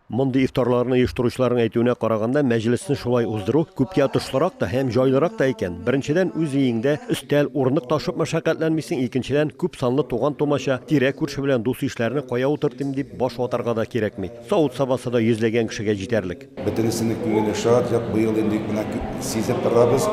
Мондый ифтарларны оештыручыларның әйтүенә караганда, мәҗлесне шулай уздыру күпкә отышлырак та һәм җайлырак та икән. Беренчедән, үз өеңдә өстәл, урындык ташып мәшәкатьләнмисең, икенчедән, күп санлы туган-тумача, тирә-күрше белән дус-ишләрне кая утыртыйм дип баш ватарга да кирәкми. Савыт-сабасы да йөзләгән кешегә җитәрлек. Бөтенесенең күңеле шат, як быел инде менә сизеп торабыз,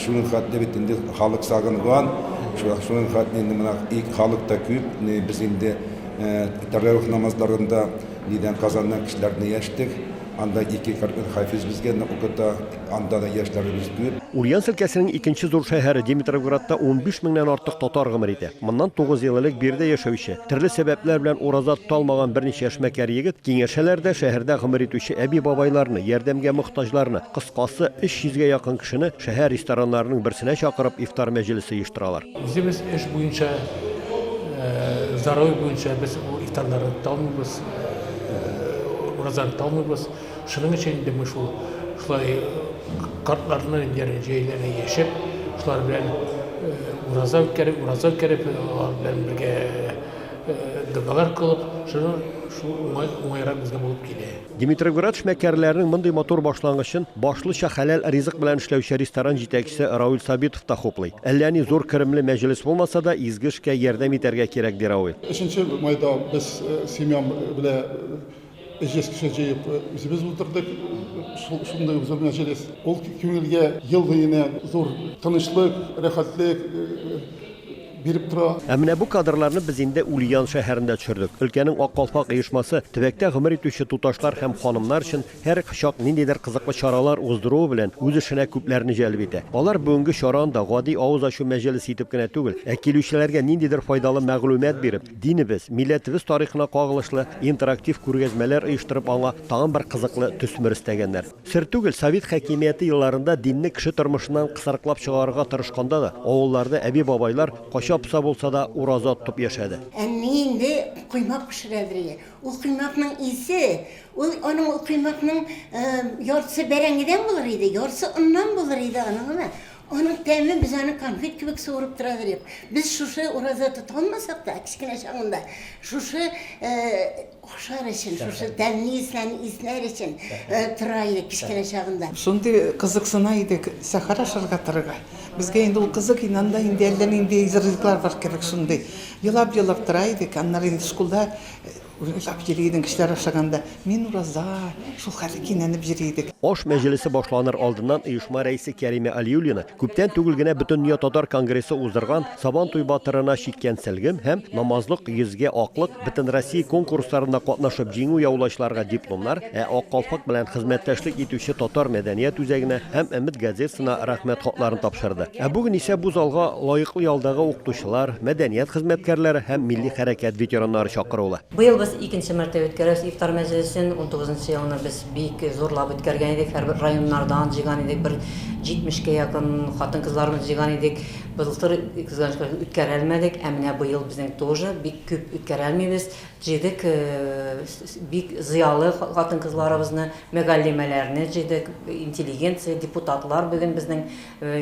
шуның хәтле бит инде халык сагынган, шуның хәтле инде менә халык та күп, без инде Тәравих намазларында нидән Казаннан кешеләрне яшьтек. Анда ике кәрдән хафиз безгә укыта. Анда да яшьләребез күп. Ульян өлкәсенең икенче зур шәһәре Димитровградта унбиш меңнән артык татар гомер итә. Моннан тугыз ел элек биредә яшәүче, төрле сәбәпләр белән ураза тота алмаган берничә эшмәкәр егет киңәшәләр дә шәһәрдә гомер итүче әби-бабайларны, ярдәмгә мохтаҗларны, кыскасы, өч йөзгә якын кешене шәһәр рестораннарының берсенә чакырып ифтар мәҗлесе оештыралар. Үзебез эш буенча, здоровье буенча без бу ифтарларны тоталмыйбыз, уразаны тоталмыйбыз. Шуның өчен инде без шул шулай картларны дигән җәйләргә яшәп, шулар белән ураза үткәреп, ураза үткәреп, алар белән бергә догалар кылып, шуның шул уңай, уңайрак безгә булып килә. Димитровград эшмәкәрләренең мондый матур башлангычын башлыча хәләл ризык белән эшләүче ресторан җитәкчесе Рауль Сабитов та хуплый. Әллә ни зур керемле мәҗлес булмаса да, изге эшкә ярдәм итәргә кирәк, ди Рауль. Өченче майда без семьям белән җиз кеше җыеп үзебез утырдык. Шундый ук зур мәҗлес. Ул күңелгә ел буена зур тынычлык, рәхәтлек, биреп тора. Ә менә бу кадрларны без инде Ульян шәһәрендә төшердек. Өлкәнең Ак калфак оешмасы төбәктә гомер итүче туташлар һәм ханымнар өчен һәр чак ниндидер кызыклы чаралар уздыруы белән үз эшенә күпләрне җәлеп итә. Алар бүгенге чараны да гади авыз ачу мәҗелесе итеп кенә түгел, ә килүчеләргә ниндидер файдалы мәгълүмат биреп, динебез, милләтебез тарихына кагылышлы интерактив күргәзмәләр оештырып аңа тагын бер кызыклы төсмер өстәгәннәр. Сер түгел, совет хакимияте елларында динне кеше тормышыннан кысрыклап чыгарырга тырышканда да, авылларда әби-бабайлар, кача-поса булса да, ураза тотып яшәде. Әни инде коймак пешерә ди. Ул коймакның исе, ул аның ул коймакның яртысы бәрәңгедән булыр иде, яртысы оннан булыр иде аның гына. Аның тәме, без аны конфет кебек суырып тора идек. Без шушы ураза тота алмасак та, кечкенә чагында, шушы Охшар өчен, шушы тәмле исләрне иснәр өчен тора идек кечкенә чагында. Шундый кызыксына идек сәхәр ашарга торырга. Безгә инде ул кызык иде, анда инде әллә нинди җырлыйлар бар кебек шундый. Елап-елап тора идек, аннары инде шкулда уйлап йөри идең кешеләр ашаганда, мин ураза, шул хәлле кинәнеп йөри идек. Аш мәҗлесе башланыр алдыннан оешма рәисе Кәримә Алиуллина күптән түгел генә Бөтендөнья татар конгрессы уздырган Сабантуй батырына чиккәнсэлгем һәм Намазлык йөзгә аклык бөтенроссия конкурсларында катнашып җиңү яулаучыларга дипломнар, ә Ак калфак белән хезмәттәшлек итүче Татар мәдәният үзәгенә һәм Өмет газетасына Рәхмәт хатларын тапшырды. Ә бүген исә бу залга лаеклы ялдагы укытучылар, мәдәният хезмәткәрләре һәм милли хәрәкәт ветераннары чакырулы. Быел без икенче мәртәбә үткәрәбез ифтар мәҗлесен. Унтугызынчы елны без бик зурлап үткәргән идек, һәрбер районнардан җыйган идек, бер җитмешкә якын хатын-кызларыбыз җыйган идек. Былтыр кызганыч үткәрә алмадык, ә менә быел безнең тоже бик күп үткәрә алмыйбыз. Җыйдык бик зыялы хатын-кызларыбызны, мөгаллимәләрне җыйдык, интеллигенция, депутатлар бүген безнең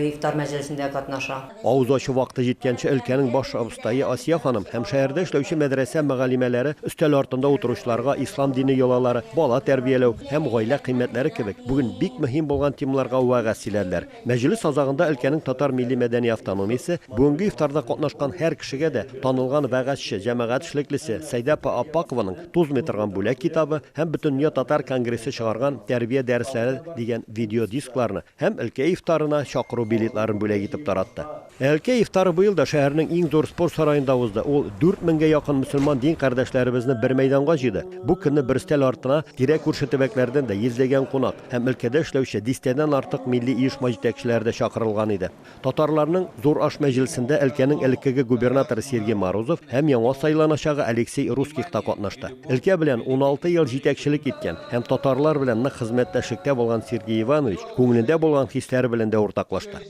ифтар мәҗлесендә катнаша. Авыз ачу вакыты җиткәнче өлкәнең баш абыстае Асия ханым һәм шәһәрдә эшләүче мәдрәсә мөгаллимәләре өстәл артында утыручыларга ислам дине йолалары, бала тәрбияләү һәм гаилә кыйммәтләре кебек бүген бик мөһим булган темаларга вәгазь сөйләделәр. Мәҗлес азагында өлкәнең татар милли-мәдәни автономиясе, бүгенге ифтарда катнашкан һәр кешегә дә танылган вәгазьче, җәмәгать эшлеклесе Сәйдә апа Аппакованың Тузмый торган бүләк китабы һәм Бөтендөнья татар конгрессы чыгарган Тәрбия дәресләре дигән видеодискларны һәм өлкә ифтарына чакыру билетларын бүләк итеп таратты. Әлкәй ифтары быел да шәһәрнең иң зур спорт сараенда узды. Ул дүрт меңгә якын мөселман дин кардәшләребезне бер мәйданга җыйды. Бу көнне бер өстәл артына тирә-күрше төбәкләрдән дә йөзләгән кунак һәм өлкәдә эшләүче дистәдән артык милли оешма җитәкчеләре дә чакырылган иде. Татарларның зур аш мәҗлесендә өлкәнең элеккеге губернаторы Сергей Морозов һәм яңа сайланачагы Алексей Русских та катнашты. Өлкә белән уналты ел җитәкчелек иткән һәм татарлар белән нык хезмәттәшлектә булган Сергей Иванович күңелендә булган хисләре белән дә уртаклашты.